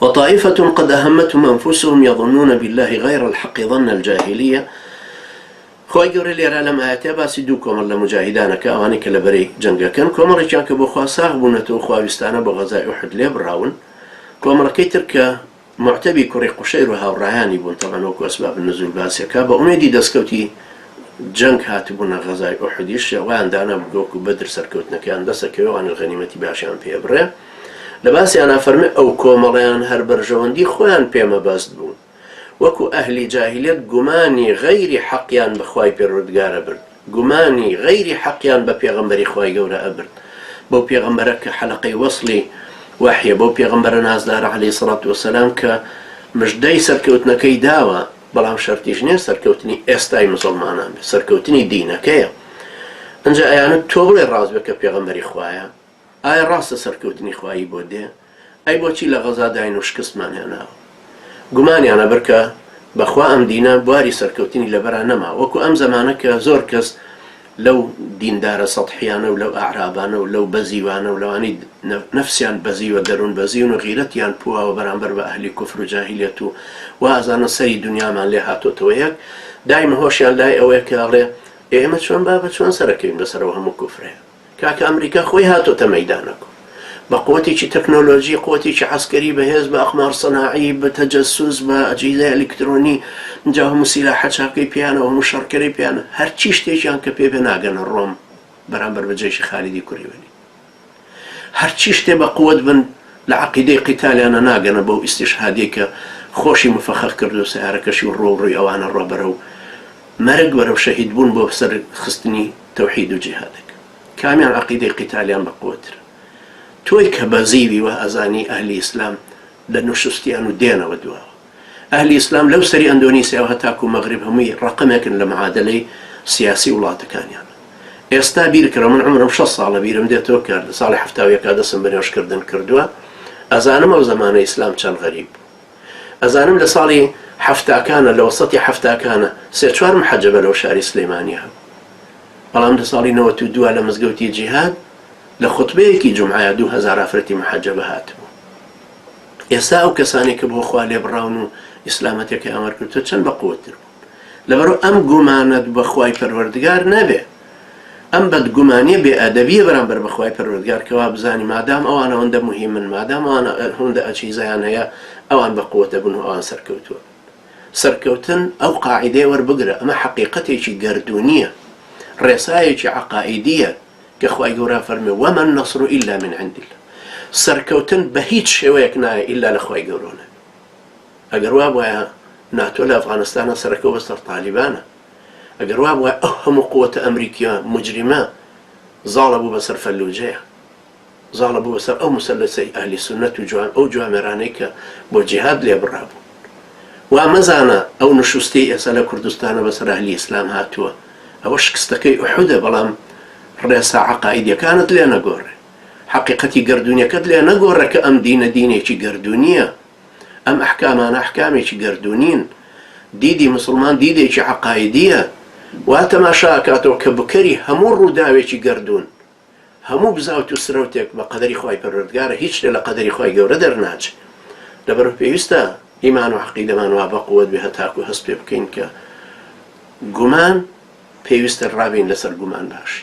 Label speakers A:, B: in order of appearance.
A: وطائفە قد اهمتهم انفسهم یظنون باللە غیر الحق ظن الجاهلیە، خوای گەورە لێرا لەم ئایەتە باسی دوو کۆمەڵ لە موجاهیدان ئەکا ئەوانەی کە لە بەرەی جەنگەکەن کۆمەڵێکیان کە بۆ خوا ساغ بوونەتەوە خواویستانە بۆ غەزای ئوحد لێبڕاون کۆمەڵەکەی تر کە معتەبی کوڕی قوشەیر و هاوڕایانی بوون تەبعەن وەکو اسباب النزول باسی ئەکا بە ئومێدی دەسکەوتی جەنگ هاتبوونە غەزای ئوحدیش وایان دانابوو کە وەکو بەدر سەرکەوتنەکەیان دەسەکەوێ وانەش غەنیمەتی باشیان پێ ئەبڕێ لە باسیانا فەرمێ ئەو کۆمەڵەیان هەر بەرژەوەندی خۆیان پێ مەبەست بوو، وەکو ئەهلی جاهیلیەت گومانی غەیری حەقیان بە خوای پەروەردگار ئەبرد، گومانی غەیری حەقیان بە پێغەمبەری خوای گەورە ئەبرد، بەو پێغەمبەرە کە حەلەقەی وەسڵی وەحیە، بەو پێغەمبەرە نازدارە عەلەیهی سەڵات وەسەلام کە مژدەی سەرکەوتنەکەی داوە، بەڵام شەرتیش نیە سەرکەوتنی ئێستای موسڵمانان بێ، سەرکەوتنی دینەکەیە، ئنجا ئەیانوت تۆ بڵێ ڕاست بێ کە پێغەمبەری خوایە؟ ئایا ڕاستە سەرکەوتنی خوایی بۆ دێ؟ ئەی بۆچی لە غەزا داین و شکستمان هێناوە؟ گومانیان ئەبر کە بە خوا ئەم دینە بواری سەرکەوتنی لە بەرا نەما وەکو ئەم زەمانە کە زۆر کەس لەو دیندارە سەتحیانە و لەو ئەعرابانە و لەو بەزیوانە و لەوانەی نەفسیان بەزیوە دەرون بەزیون و غیرەتیان پواوە بەرامبەر بە ئەهلی کوفر و جاهیلیەت و وائەزانن سەری دونیامان لێ هاتۆتەوە یەک دایمە هۆشیان لای ئەوەیە کە ئەڵێ ئێ ئێمە چۆن بابە چۆن سەرەکەوین بەسەر ئەو هەموو کوفرەیە؟ کاکە ئەمریکا خۆی هاتۆتە مەیدانەک و بە قوتێکی تەکنۆلۆجی قوتێکی عەسکەری بە هێز بە ئەقمار سەناعی بە تەجەسوس بە ئەجهیزە ئەلیکترۆنی جا هەموو سیلاحە چاکەی پێیانە و هەموو شەڕکەرەی پێیانە هەرچی شتێکیان کە پێ بێ ناگەنە ڕۆم بەرامبەر بە جەیشی خالیدی کوڕی وەلی هەرچی شتێ بە قوت بن لە عەقیدەی قیتالیانە ناگەنە بەو ئیستیشهادیەی کە خۆشی مفەخەخ کردووە سەیارەکەشی و ڕۆ و ڕووی ئەوانە ڕۆ بەرەو مەرگ وەرەو شەهید بوون بۆ سەر خستنی تەوحید و جیهادەک کامیان عەقیدەی قیتالیان بە قوەت ترە تۆی کە بەزیوی وا ئەزانی ئەهلی ئیسلام لە نوشستیان و دێنەوە دواوە ئەهلی ئیسلام لەو سەری ئەندۆنیسیاوە هەتاکو مەغریب هەمووی ڕەقەمێکن لە معادەلەی سیاسی وڵاتەکانیان ئێستا بیرکەرەوە من عەمرم شەست ساڵە بیرم دێتەوە کە لە ساڵی حەفتا و یەکا دەسم بە نوێژکردن کردوە ئەزانم ئەو زەمانە ئیسلام چەند غەریب بوو. ئەزانم لە ساڵی حەفتاکانە لە وەسەتی حەفتاکانە سێ چوار محەجەبە لەو شاری سلیمانی هەبوو بەڵام لە ساڵی نەوەت و دوا لە مزگەوتی جیهاد لە خوتبەیەکی جمعە دوو هەزار ئافرەتی محەجەبە هاتبوو ئێستا ئەو کەسانی کە بۆ خوا لێبڕاون و ئیسلامەتەکەی ئامار کردو چەند بە قوتر بوو لەبەرو ئەم گومانەت بە خوای پەروەردگار نەبێ ئەم بەدگومانیە بێ ئەدەبیە بەرامبەر بە خوای پەروەردگار کە وابزانی مادام ئەوان ئەوەندە موهیمن مادام ئەوان هەوندە ئەچیزەیان هەیە ئەوان بە قوەت ئەبن و ئەوان سەرکەوتوون سەرکەوتن ئەو قاعیدەیە وەربگرە ئەمە حەقیقەتێکی گەردونیە ڕێسایەکی عەقائیدیە کە خوای گەورە فەرمێ وەمە النصر الا من عند الله سەرکەوتن بە هیچ شێوەیەک نایە ئیلا لە خوای گەورەوە نەبێ ئەگەر وابوایە ناتۆ لە ئەفغانستانە سەرەکەو بەسەر تالیبانە ئەگەر وابوایە ئەو هەموو قوتە ئەمریکیە موجریمە زاڵە بوو بەسەر فەلوجەیا زاڵە بوو بەسەر ئەو مسلسەی ئەهلی سونەت و جوان ئەو جوامێرانەی کە بۆ جیهاد لێبڕابوون وا مەزانە ئەو نشوستەی ئێستا لە کوردستانە بەسەر ئەهلی ئیسلام هاتووە ئەوە شکستەکەی ئوحودە بەڵام ڕێسا عەقائیدیەکانت لێ نەگۆڕێ حەقیقەتی گەردوونیەکەت لێ نەگۆڕە کە ئەم دینە دینێکی گەردوونییە، ئەم ئەحکامانە ئەحکامێکی گەردوونین، دیدی موسڵمان دیدێکی عەقایدییە، وا تەماشا ئەکاتەوە کە بکەری هەموو ڕووداوێکی گەردوون، هەموو بزاوت و سرەوتێک بە قەدەری خوای پەروەردگارە هیچ شتێ لە قەدەری خوای گەورە دەرناچێ، لەبەرئەوە پێویستە ئیمان و عەقیدەمان وا بەقوەت بێ هەتاکوو هەست پێ بکەین کە گومان پێویستە ڕابین لەسەر گومان باشی.